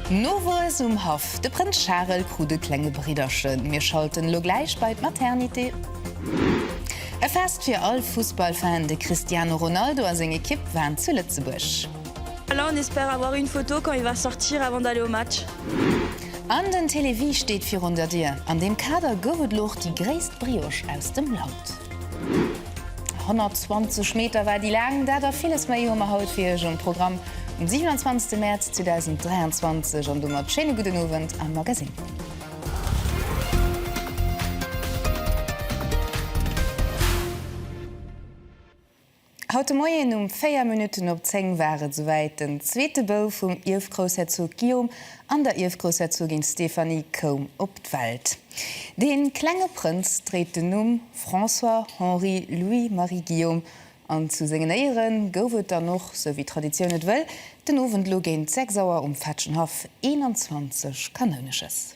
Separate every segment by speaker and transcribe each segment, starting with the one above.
Speaker 1: Nowuess um Haff, De Prënz Charel krut e klenge Bridderchen. Mir schalten elo gläich bei d'Maternité. E Fest fir all Fussballfan, De Cristiano Ronaldo a seng Ekipp waren zu Lëtzebuerg. Là on espère
Speaker 2: avoir une photo quand il va sortir avant d'aller au match. An
Speaker 1: den Télévie steet virun der Dier. An deem Kader gouf et elo och déi gréisst Brioche aus dem Land. 120 Meter war déi laang. Dat a villes méi hu mer haut fir Iech um Programm um 27 Mäerz 2023. An domat schéine gudden Owend am Magasinn. Haut de Moien um 4 Minutten op 10 war et souwäit, den zweete Bouf vum Ierfgroussherzog Guillaume an der Ierfgroussherzogin Stéphanie koum op d'Welt. Dee klenge Prënz dréit den Numm François Henri Louis Marie Guillaume an zu sengen Éiere gouf et dann och, sou wéi Traditioun et wëll, den Owend elo géint 6 Auer um Fetschenhaff 21 Kanounesches.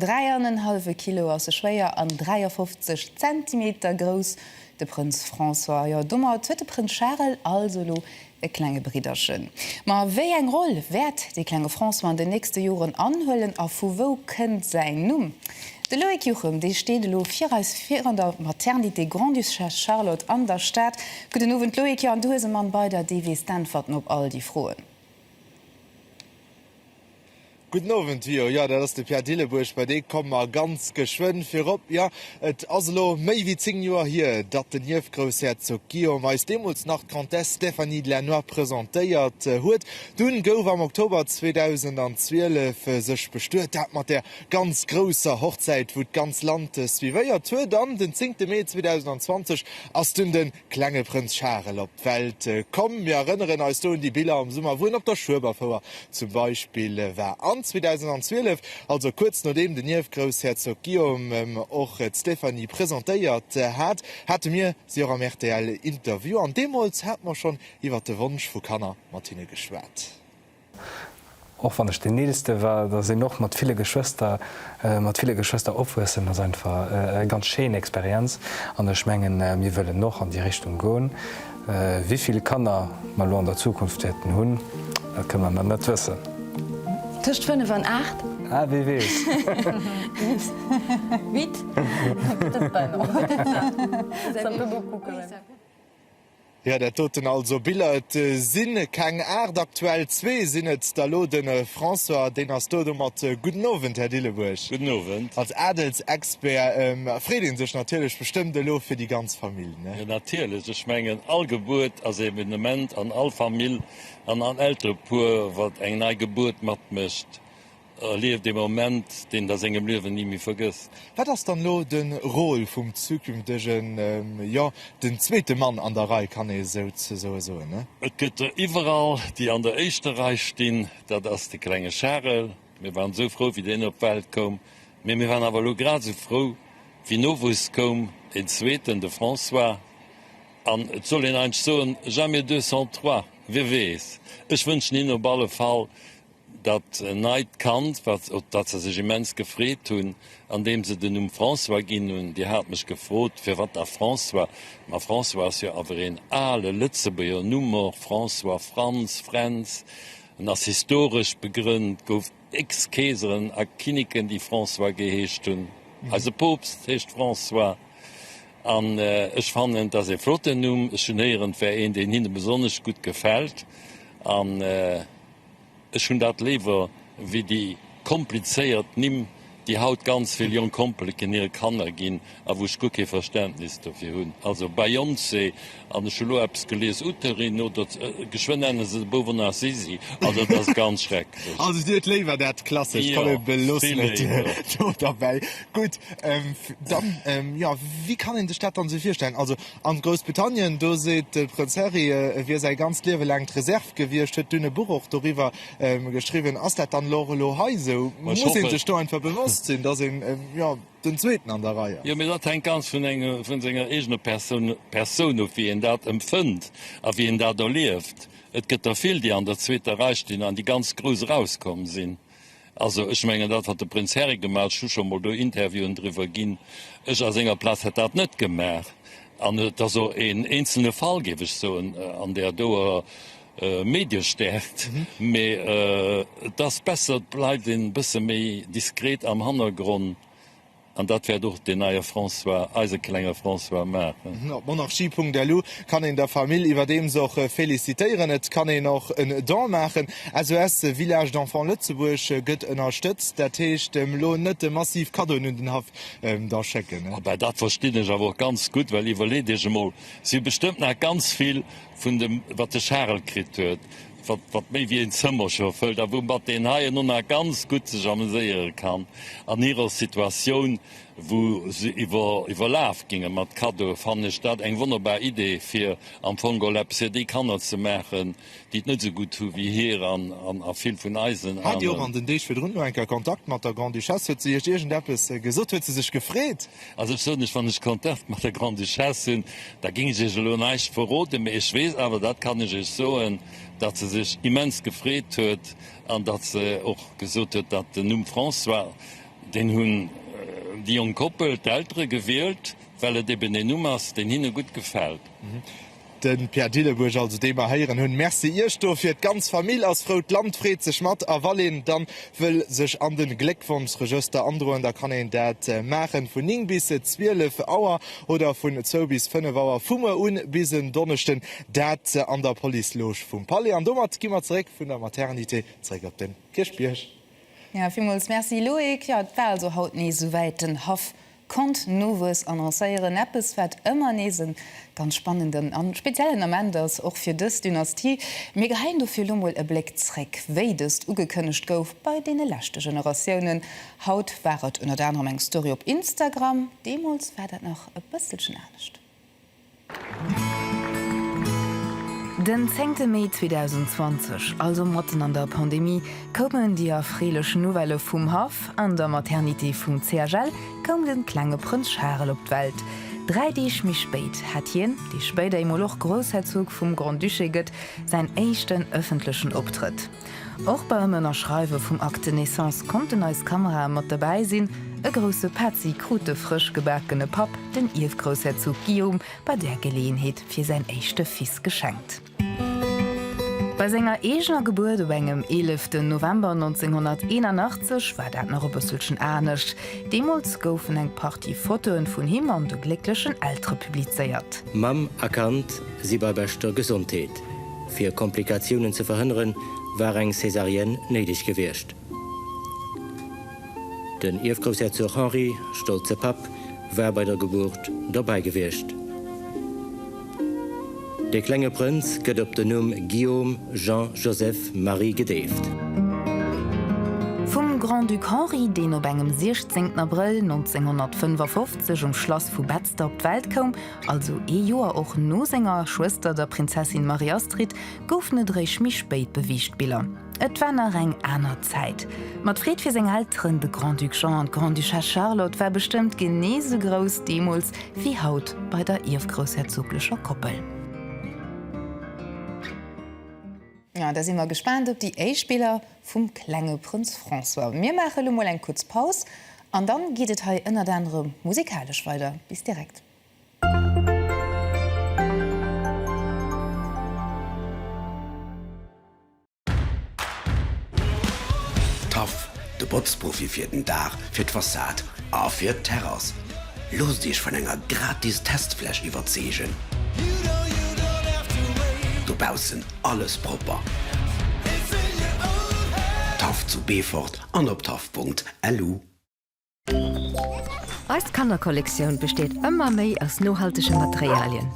Speaker 1: Dräi an en hallwe Kilo ass e schwéier an 53 Zentimeter grouss, de Prënz François. Jo, domat huet de Prënz Charel also elo e klenge Bridderchen. Ma wéi eng Roll wäert de klenge François an den nächste Joren anhuelen a vu wou kënnt säin Numm? De Loïc Juchem, dee steet elo fir eis virun der Maternité Grande-Duchesse Charlotte an der Stad. Gudden Owend Loïc, jo an du hues e Mann bei der, dee weess d'Äntwerten op all déi Froen.
Speaker 3: Gudden Owend, Wio. Jo, dat ass de Pierre Dillebuerg. Bei dee komme mer ganz geschwënn virop. Jo, et ass elo méi wéi zéng Joer hier, datt den Ierfgroussherzog Guillaume eis deemools nach d'Comtesse Stéphanie de Lannoy presentéiert huet. Dunn gouf am Oktober 2012 sech bestuet, dat mat där ganz grousser Hochzäit, wou d'ganz Land suivéiert huet. An den zéngte Mee 2020 ass dunn de Klenge Prënz Charel op d'Welt komm. Mir erënneren eis do un déi Biller am Summer, wou en op der Schueberfouer zum Beispill war. An 2012, also kuerz nodeem den Ierfgroussherzog Guillaume och d'Stéphanie presentéiert hat, hate mir si och am RTL-Interview. An deemools hate mer schonn iwwer de Wonsch vu Kanner mat hinne geschwat.
Speaker 4: Och wann ech den eelste war, dass een och mat ville Geschwëster, mat ville Geschwëster opwuessen ass einfach eng ganz schéin Experienz an ech mengen mir wëllen och an déi Richtung goen. Wivill Kanner mer elo an der Zukunft wäerten hunn, dat kënne mer nach net wëssen. Tëscht
Speaker 2: 5 an 8. Ah, wie weess. Vite.
Speaker 3: Jo dat doten also Biller, et sin keng 8 aktuell, zwee sin et der lo, den François deen ass do domat. Gudden Owend Här Dillebuerg. Gudden Owend. Als
Speaker 5: Adelsexpert
Speaker 3: freet een sech natierlech bestëmmt elo fir déi ganz Famill, ne? Jo natierlech, ech
Speaker 5: mengen all Gebuert ass e Evenement an all Famill an all Elterepuer wat eng nei Gebuert matmécht Erlieft ee Moment, deen et a sengem Liewen ni méi vergësst. Wat ass dann elo
Speaker 3: de Rôle vum zukünftegen, jo, den zweete Mann an der Rei, kann ee souzesoe soen? Et gëtt der
Speaker 5: iwwerall, déi an der éischter Rei stinn. Dat ass de klenge Charel. Mir waren esou frou, wéi deen op d'Welt koum. Mee mir waren awer elo grad esou frou, wéi Nowuess koum, een zweeten, de François. An et soll een eidg soen, jamais deux sans trois, wie weess. Ech wënschen him op alle Fall Dat neit Kand, wat, op dat se sech immens gefreet hunn, andeem se den Numm François ginn hunn. Dir hat mech gefrot, firwat da François? Ma François ass jo awer een ale Lëtzebuerger Numm och, François, Franz, Fränz. En ass historesch begrënnt, gouf x Keeseren a Kinniken, déi François geheescht hunn. Eise Poopst heescht François. An ech fannen, et ass ee flotten Numm. Ech hunn héieren, et wär een, deen hinne besonnesch gutt gefält. An. Ech hunn dat léiwer wéi déi komplizéiert Nimm, déi haut ganz vill jonk Kompeleken hire Kanner ginn a wou ech guer kee Verständnis dofir hunn. Also Beyoncé an, ech hu lo eppes gelies, Uterin oder geschwënn nennen se de Bouf och nach Sisi an. Dat ass ganz schrecklech. Also Dir hutt léiwer dat
Speaker 3: Klassescht. Jo, vill léiwer. Komm, ech
Speaker 5: beloossen et do derbäi.
Speaker 3: Gutt, dann, jo, wéi kann een sech dat dann esou virstellen? Also a Groussbritannien, do seet de Prënz Harry, e wier säi ganzt Liewe laang d'Reserv Gewiescht, huet dunn e Buch och doriwwer geschriwwen. Ass dat dann elo och elo hei esou? Muss ee sech do einfach bewosst sinn, datt een jo den Zweeten an der Rei ass? Jo, mee dat hänkt ganz vun
Speaker 5: engem, vun senger eegener Persoun, Persoun of, wéi een dat empfënnt a wéi een dat erlieft. Et gëtt der vill, déi an der zweeter Rei stinn an déi ganz grouss erauskomm sinn. Also, ech mengen, dat, wat de Prënz Harry gemaach huet, ech hu scho mol do Interviewen driwwer ginn, ech a senger Plaz hätt dat net gemaach. An et ass och een eenzelne Fall, géif ech soen, an där doer Mediestärkt. Mä et ass besser, et bleift een e bësse méi diskret am Hannergronn. An dat wäert och deen neie François, eise klenge François maachen. Op monarchie.lu
Speaker 3: kann een der Famill iwwerdeems och felicitéieren. Et kann een och en Don maachen. SOS Village d'Enfants Lëtzebuerg gëtt ënnerstëtzt. Dat heescht, elo net de massiv Kaddoen un den Haff da schécken. Ah ben, dat verstinn ech awer
Speaker 5: och ganz gutt, well iwwerleet Iech emol, et si bestëmmt nach ganz vill vun dem, wat de Charel kritt huet, wat méi wéi een Zëmmerche fëllt a woumat deen hei en Onnar ganz gutt sech ameséiere kann an hirer Situatioun, wou se iwwerlaf gingen mat Cadeaue, fannen ech dat eng wonnerbar Idee, fir am Fong gol eppes fir déi Kanner ze maachen, déi et net esou gutt hu wéi hir an a vill vun eisen aneren. Hat Dir och an den Deeg virdrun
Speaker 3: no enker Kontakt mat der Grande-Duchesse? Huet se Iech iergendeppes gesot? Huet se sech gefreet, Also ech soen lech, wann
Speaker 5: ech Kontakt mat der Grande-Duchesse hunn, da géing ech iech elo näischt verroden, mee ech weess awer, dat kann ech iech soen, datt se sech immens gefreet huet an datt se och gesot huet, datt den Numm François, deen hunn déi jonk Koppel, d'Eltere gewielt, well et eben een Numm ass, deen hinne gutt gefält. Den
Speaker 3: Pierre Dillenburg also deen mer heieren hun. Merci iech dofir. D'ganz Famill ass frou, d'Land freet sech mat a wann een dann wëll sech an den Gléckwonschregëster androen da kann een dat maachen vun 9 bis 12 Auer oder vun 2 bis 5 Auer vu muer un bis en Donneschden dat an der Police Loge vum Palais. An domat gi mer zeréck vun der Maternité zeréck op den Kierchbierg. Villmools
Speaker 1: Merci Loïc. Jo et war also haut nees esouwäit, den Haff Conte Nowues annoncéieren, eppes wat ëmmer nees e ganz spannenden a speziellen Ament ass, och fir dës Dynastie. Mir geheien dofir elo mol e Bléck zréck, wéi dëst ugekënnegt gouf bei deene leschte Generatiounen. Haut war et ënnert anerem eng Story op Instagram, deemools war dat nach e bësselchen anescht. Den zéngte Mee 2020, also matten an der Pandemie, koumen déi erfreelech Nouvellë vum Haff, An der Maternité vum CHL koum de klenge Prënz Charel op d'Welt. Dräi Deeg méi spéit hat hien, dee spéider eemol och Groussherzog vum Grand-Duché gëtt, säin éischten ëffentlechen Optrëtt. Och beim Ënnerschreiwe vum Acte de Naissance konnten eis Kamerae mat dobäi sinn. E grousse Petzi krut de frësch gebakene Papp, den Ierfgroussherzog Guillaume, bei där Geleeënheet fir säin éischte Fils geschenkt. Bei senger eegener Gebuert op engem 11 den November 1981 war dat nach e bësselchen anescht. Deemools goufen eng Partie Fotoe vun him an de glécklechen Eltere publizéiert. Mamm a Kand
Speaker 6: si bei beschter Gesondheet. Fir Komplikatiounen ze verhënneren, war eng Césarienne néideg gewiescht. Den Ierfgroussherzog Henri, stolze Papp, war bei der Gebuert dobäi gewiescht. De klenge Prënz gëtt op den Numm Guillaume Jean Joseph Marie gedeeft. Vum
Speaker 1: Grand-Duc Henri, deen op engem 16 Abrëll 1955 um Schlass vu Betzder op d'Welt koum, Also ee Joer och no senger Schwëster, der Prinzessin Marie-Astrid, goufen et eréischt méi spéit beweegt Biller. Et war nach eng aner Zäit. Ma d'Freed fir seng Elteren, de Grand-Duc Jean an d'Grande-Duchesse Charlotte, war bestëmmt genee esou grouss deemools wéi haut bei der ierfgroussherzoglecher Koppel. Da si mer gespaant op déi éischt Biller vum klenge Prënz François. Mir maache lo mol eng kuerz Paus An dann geet et hei ënnert anerem musikalesch weider. Bis direkt.
Speaker 7: Taff, de Botzprofi fir den Daach, fir d'Fassad a fir d'Terrass. Loosst Iech vun enger gratis Testfläch iwwerzeegen. Dobaussen alles propper. Taff zu Beefort an op taff.lu. Elu.
Speaker 8: Eis Kannerkollektioun besteet ëmmer méi aus nohaltege Materialien.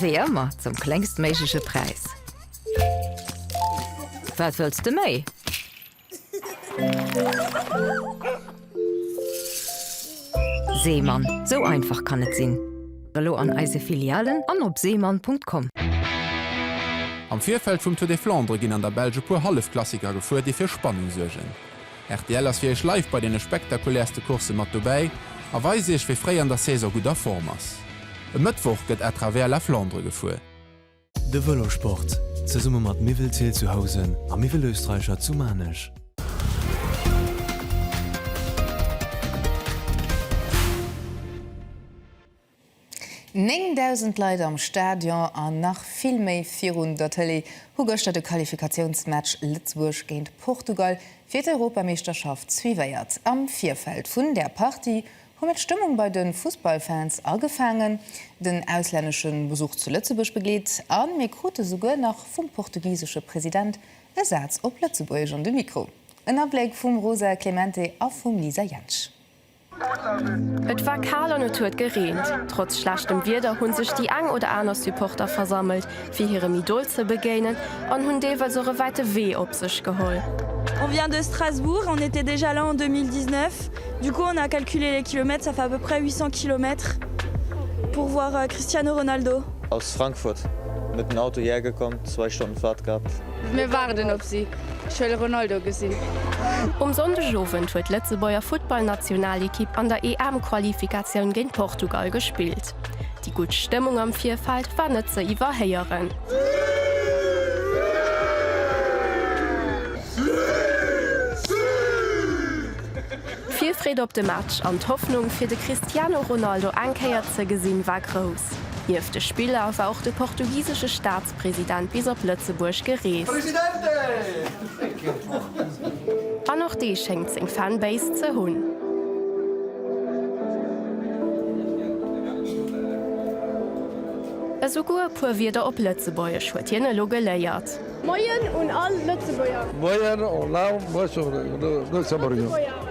Speaker 8: Wéi ëmmer zum kléngstméigleche Präis. Wat wëlls de méi? Seemann, sou einfach kann et sinn! Elo an eise Filialen an op seemann.com. Am
Speaker 9: Virfeld vum Tour des Flandres ginn an der Belsch e puer Hallefklassiker gefuer, déi fir Spannung suergen. Rtl ass fir Iech live bei deene spektakulärste Coursse mat dobäi a weist Iech, wie fréi an der Saison gutt a Form ass. E Mëttwoch gëtt à travers la Flandre gefuer. De
Speaker 10: Vëlosport, zesumme mat Miwwelzeel zu Housen a Miwwelösterreicher zu Maarnech.
Speaker 1: Néng dausend Leit am Stadion a nach vill méi virun der Tëlee hu gëschter de Qualifikatiounsmatch Lëtzebuerg géint Portugal fir d'Europameeschterschaft suivéiert. Am Virfeld vun där Partie Hu mir d'Stëmmung bei de Fussballfans agefaangen, den auslännesche Besuch zu Lëtzebuerg begleet a mir krute souguer nach vum portugisesche President e Saz op Lëtzebuergesch an de Mikro. En Abléck vum Rosa Clemente a vum Lisa Jentsch.
Speaker 11: Et war kal an et huet gereent. Trotz schlechtem Wieder hunn sech déi eng oder aner Supporter versammelt, fir hirem Idol ze begéinen an hunn deelweis och e wäite Wee op sech geholl. On vient de
Speaker 2: Strasbourg, on était déjà là en 2019, du coup on a calculé les kilomètres, ça fait à peu près 800 kilomètres pour voir Cristiano Ronaldo. Aus Frankfurt
Speaker 12: met den Auto hierher gekomm, zwei Stonnen Fahrt gehabt. Mir waarden op
Speaker 13: si, ech wëll Ronaldo gesinn. Um Sonndegowend
Speaker 11: huet d'Lëtzebuerger Futtballnationalekipp an der EM-Qualifikatioun géint Portugal gespillt. Déi gutt Stëmmung am Virfeld war net ze iwwerhéieren. D'Virfreed op de Match an d'Hoffnung, fir de Cristiano Ronaldo eng Kéier ze gesinn, war grouss. Nieft de Spiller war och de portugisesche Staatschef President bis op Lëtzebuerg gereest. An och dee schéngt seng Fanbase ze hunn. Esouguer e puer Wierder op Lëtzebuergesch huet hien elo geléiert. Moien un
Speaker 13: all Lëtzebuerger! Moien
Speaker 14: an all Lëtzebuerger!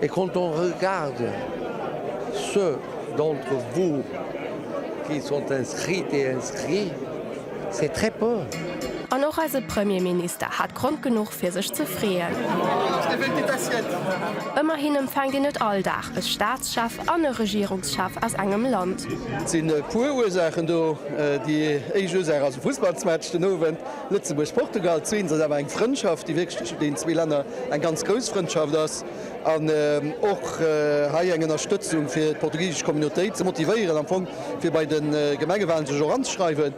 Speaker 14: Et quand on regarde ceux d'entre vous qui sont inscrites et inscrits, c'est très peu. An och eise
Speaker 11: Premierminister hat Grond genuch fir sech ze freeën. Ëmmerhin empfänkt een net all Dag e Staatschef an e Regierungschef aus engem Land. Et sinn e puer
Speaker 15: Ursaachen do. Déi éischt Ursaach ass e Fussballsmatch den Owend. Lëtzebuerg, Portugal, zwee, ass awer eng Frëndschaft, déi wierklech tëschent deenen zwee Länner eng ganz grouss Frëndschaft ass an och hei eng Ënnerstëtzung fir d'portugisesch Communautéit ze motivéieren, am Fong fir bei de Gemengewalen sech och anzeschreiwen.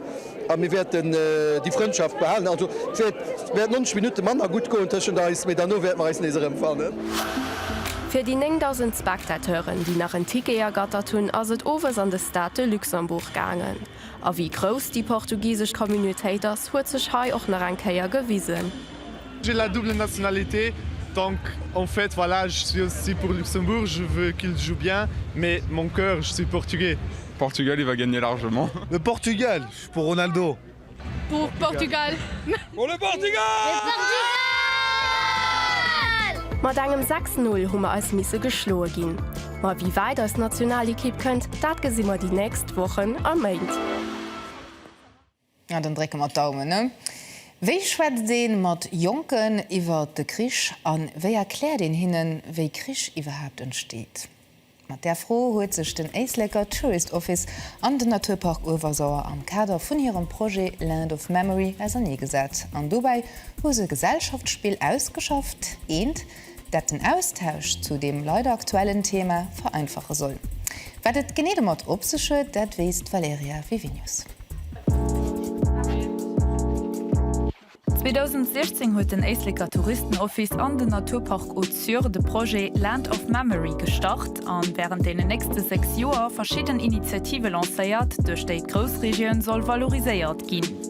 Speaker 15: A mir wäerten déi Frëndschaft behalen. Also et wäert wäert 90 Minutte manner gutt goen tëschent eis, mee derno wäerte mer eis nees erëmfannen.
Speaker 11: Fir déi 9.000 Spectateuren, déi nach en Ticket ergattert hunn, ass et owes an de Stade de Luxembourg gaangen. A wéi grouss déi portugisesch Communautéit ass, huet sech hei och nach eng Kéier gewisen. J'ai la
Speaker 16: double nationalité, donc en fait voilà, je suis aussi pour Luxembourg, je veux qu'il joue bien, mais mon cœur, je suis portugais. Portugal il va
Speaker 17: gagner largement. Le Portugal, je
Speaker 3: suis pour Ronaldo. Pour
Speaker 13: Portugal. Pour le
Speaker 17: Portugal!
Speaker 11: Mat engem 6, 0 hu mer eis misse geschloe ginn. Ma wéi wäit eis Nationalekipp kënnt, dat gesi mer déi nächst Wochen a Méint. Na,
Speaker 1: dann drécke mer d'Daumen. Wéi schwätzt ee mat Jonken iwwer de Krich a wéi erkläert een hinnen, wéi Krich iwwerhaapt entsteet? Mat där Fro huet sech den Éisleker Tourist Office an den Naturpark Öewersauer am Kader vun hirem Projet Land of Memory auserneegesat. An dobäi hu se e Gesellschaftsspill ausgeschafft, eent, dat den Austausch zu deem leider aktuellen Thema vereinfache soll. Wat et genee domat op sech huet, dat weess d'Valerija Vivinius.
Speaker 18: 2016 huet den Éisleker Touristenoffice an den Naturpark Haute-Sûre de Projet Land of Memory gestart a wärend deenen nächste sechs Joer verschidden Initiative lancéiert, duerch déi d'Groussregioun soll valoriséiert ginn.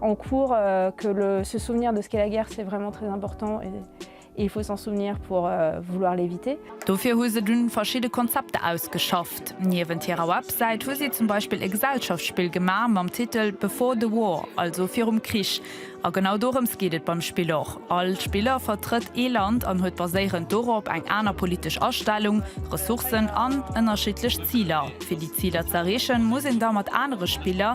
Speaker 19: en cours que le se souvenir de ce qu'est la guerre c'est vraiment très important et il faut s'en souvenir pour vouloir l'éviter. Dofir hu se dunn
Speaker 18: verschidde Konzepter ausgeschafft. Niewent hirer Websäit hu si zum Beispill e Gesellschaftsspill gemaach mam Titel Before the War, also virum Krich. A genau dorëms geet et beim Spill och. All Spiller vertrëtt ee Land an huet baséierend dorop eng aner politesch Astellung, Ressourcen an ënnerschiddlech Ziler. Fir déi Ziler z'erreechen, muss een da mat anere Spiller,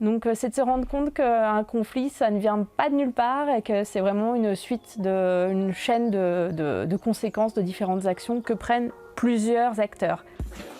Speaker 19: Donc c'est de se rendre compte que un conflit ça ne vient pas de nulle part et que c'est vraiment une suite de, une chaîne de, de, de conséquences de différentes actions que prennent plusieurs acteurs.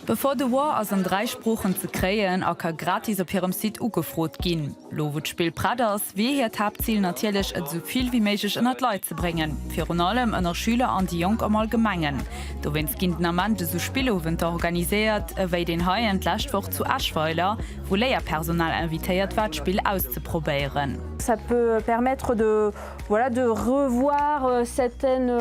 Speaker 19: Before the
Speaker 18: War ass an 3 Sproochen ze kréien a ka gratis op hirem Site ugefrot ginn. Lo wou d'Spill prett ass, wier hiert Haaptzil natierlech et esou vill wéi méiglech ënner d'Leit ze bréngen, virun allem ënner Schüler an déi Jonk am Allgemengen. Dowéinst ginn den Ament esou Spillowenter organiséiert ewéi deen heien d'lescht Woch zu Eschweiler, wou Léierpersonal invitéiert war d'Spill auszeprobéieren. Ça peut
Speaker 19: permettre de voilà de revoir certaines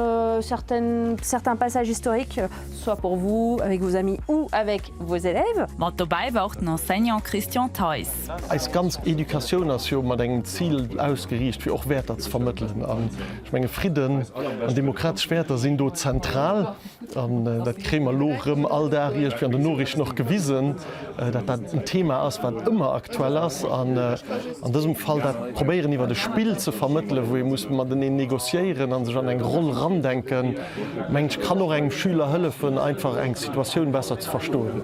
Speaker 19: certaines certains passages historiques soit pour vous avec vos amis ou avec vos élèves. Mat dobäi war och den
Speaker 18: Enseignant Christian Theis. Eis ganz
Speaker 20: Educatioun ass jo mat engem Zil ausgeriicht fir och Wäerter ze vermëttelen an ech menge Fridden an demokratesch Wäerter sinn do zentral. An dat kréie mer elo erëm all Dag iergendwéi an den Noriichten och gewisen, datt dat en Thema ass, wat ëmmer aktuell ass. An an dësem Fall dat probéieren iwwert e Spill ze vermëttelen, wou ee muss mateneen negociéieren a sech an eng Roll erandenken, mengen ech, kann och engem Schüler hëllefen, einfach eng Situatioun besser ze verstoen.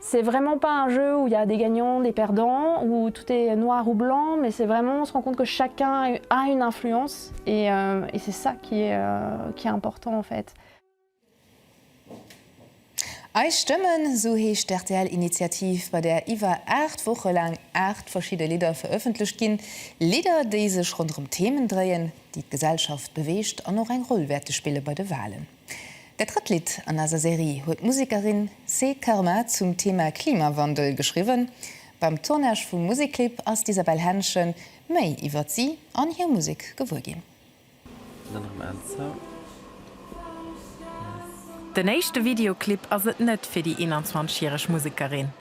Speaker 19: C'est vraiment pas un jeu où il y a des gagnants, des perdants, où tout est noir ou blanc, mais c'est vraiment on se rend compte que chacun a une influence et et c'est ça qui est qui est important en fait.
Speaker 1: Eis Stëmmen, esou heescht d'RTL-Initiativ, bei där iwwer 8 Woche laang 8 verschidde Lidder verëffentlecht ginn. Lidder, déi sech ronderëm Themen dréien, déi d'Gesellschaft beweegt an och eng Roll wäerte spille bei de Walen. Dat drëtt Lidd an eiser Serie huet d'Musekerin Cé Karma zum Thema Klimawandel geschriwwen. Beim Tournage vum Musekclip ass d'Isabelle Henschen méi iwwert si an hir Musek gewuer ginn.
Speaker 21: Den éischte Videoclip ass et net fir déi 21 järeg Musekerin.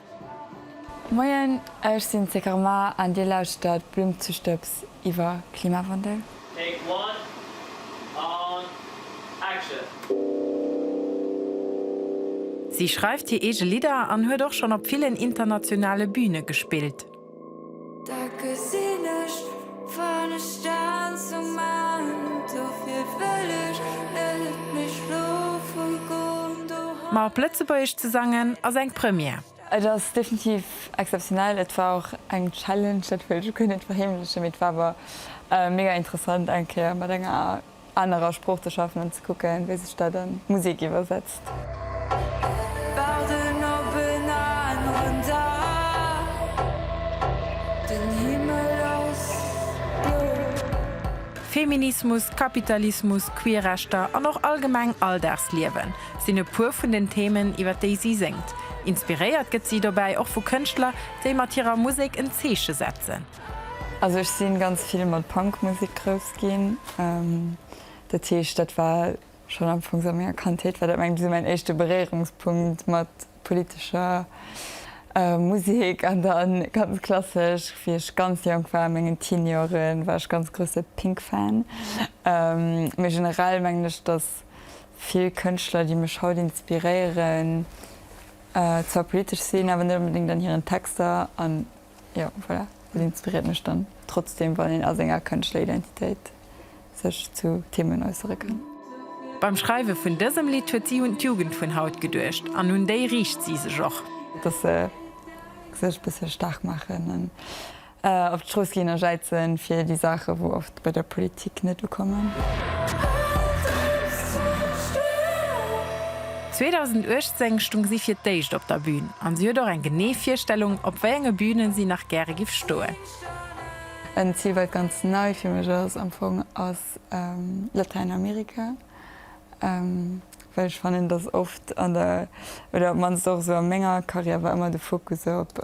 Speaker 22: Moien, ech sinn d'Sé Karma an Dir lauschtert Blumzestëbs iwwer Klimawandel. Take one
Speaker 23: an action!
Speaker 21: Si schreift hir eege Lidder an huet och schonn op villen internationale Büne gespillt. Da gesinn ech wann ech stan zum Mount, dofir wëll ech net méi schlofe gon doheim. Ma op Lëtzebuergesch ze sangen ass eng Première. Et ass definitiv
Speaker 22: exzeptionell. Et war och eng Challenge, dat wëll ech u kee net verheemlechen, mee et war awer mega interessant eng Kéier mat enger anerer Sprooch ze schaffen an ze kucke wéi sech dat a Musek iwwersetzt. Waarden op en aneren Dag,
Speaker 21: den Himmel ass blou. Feminismus, Kapitalismus, Queerrechter an och allgemeng Alldagsliewen sinn e puer vun den Themen, iwwer déi si séngt. Inspiréiert gëtt si dobäi och vu Kënschtler, déi mat hirer Musek en Zeeche setzen. Also ech
Speaker 22: sinn ganz vill mat Punkmusek grouss ginn, dat heescht dat war schonn Ufanks a menger Kandheet war dat mengen ech sou mäin éischte Beréierungspunkt mat politescher Musek an dann ganz klassesch wéi ech ganz jonk war a mengen Teen Jore war ech ganz grousse Pink Fan. Méi generell mengen ech dass vill Kënschtler déi mech haut inspiréieren zwar politesch sinn awer net onbedéngt an hiren Texter an Jo, voilà, wat inspiréiert mech dann trotzdeem, wann een a senger kënschtler Identitéit sech zu Themen äussere kann? Beim Schreiwe
Speaker 21: vun dësem Lidd huet si un d'Jugend vun haut geduecht an un déi riicht si sech och. Dass se
Speaker 22: sech e bësse staark maachen an op d'Strooss ginn a jäizen fir déi Saachen, wou Bei der Politik net ukommen. 2018
Speaker 21: stung si fir d'éischt op der Bühn an si huet och eng genee Virstellung, op wéi enge Bühnen si nach gäre giff stoen. En
Speaker 22: Zil, wat ganz nei fir mech ass am Fong, ass Latäinamerika, well ech fannen, dass oft an der, oder op d'mannst och esou a menger Karriär, war ëmmer de Fokus op.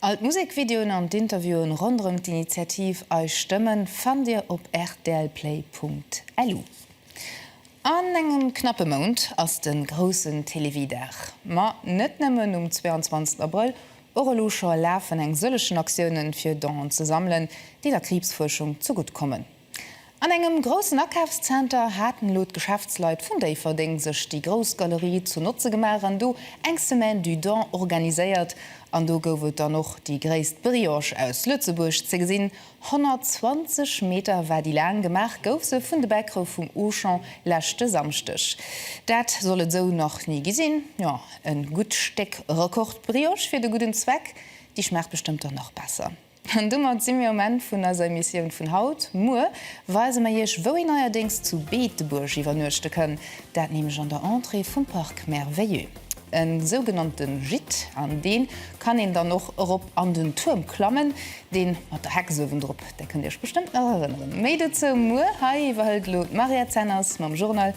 Speaker 1: All d'Musekvideoen an d'Interviewe ronderëm d'Initiativ Eis Stëmmen fannt Dir op rtlplay.lu. An engem knappe Mount ass de groussen Télévie-Dag. Ma net nëmmen um 22 Abrëll, och elo scho lafen eng sëllegen Aktioune fir Donen ze sammelen, déi der Kriibsfuerschung ze gutt kommen. An engem groussen Akafszenter haten elo d'Geschäftsleit vun Déifferdeng sech déi grouss Galerie zu Notze gemaach an do eng Semaine du Don organiséiert. An do gouf et dann och déi gréisst Brioche aus Lëtzebuerg ze gesinn, 120 Meter war déi laang. Gemaach gouf se vun de Bäckere vum Auchan leschte Samschdeg. Dat soll et esou nach ni gi sinn. Jo, e gutt Stéck Rekordbrioche fir de gudden Zweck, déi schmaacht bestëmmt dann nach besser. An domat si mir um Enn vun eiser Emissioun vun haut. Muer weise mer Iech, wou een neierdéngs zu Beetebuerg iwwernuechte kënn, dat nämlech an der Entrée vum Parc Merveilleux. E sougenannte Gîte, an dee kann een dann och erop an den Tuerm klammen, dee mat der Hex uewendrop, där kënnt Dir Iech bestëmmt nach erënneren. Méi dozou muer. Hei iwwerhëlt elo d'Maria Zenners mam Journal.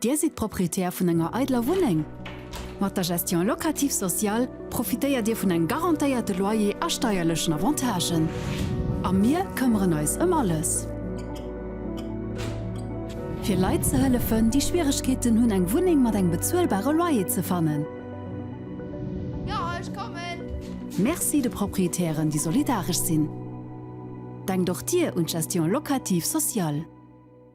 Speaker 4: Dir sidd Proprietär vun enger eidler Wunneng? Mat der Gestion locative sociale profitéiert Dir vun engem garantéierte Loyer a steierlechen Avantagen. A mir këmmeren eis ëm alles, fir Leit ze hëllefen, déi Schwieregkeeten hunn, eng Wunneng mat engem bezuelbare Loyer ze fannen.
Speaker 13: Merci de
Speaker 4: Proprietären, déi solidaresch sinn. Denkt och Dir un d'Gestion locative sociale.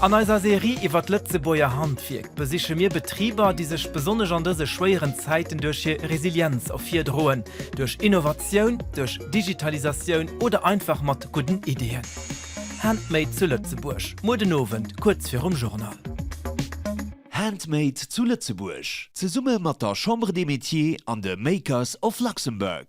Speaker 5: An eiser Serie iwwer d'Lëtzebuerger Handwierk besiche mir Betriber, déi sech besonnesch an dëse schwéieren Zäiten duerch hir Resilienz ervirdroen, duerch Innovatioun, duerch Digitalisatioun oder einfach mat gudden Iddien. Handmade zu Lëtzebuerg, muer den Owend kuerz virum Journal. Handmade
Speaker 6: zu Lëtzebuerg, zesumme mat der Chambre des Métiers an de Makers of Luxembourg.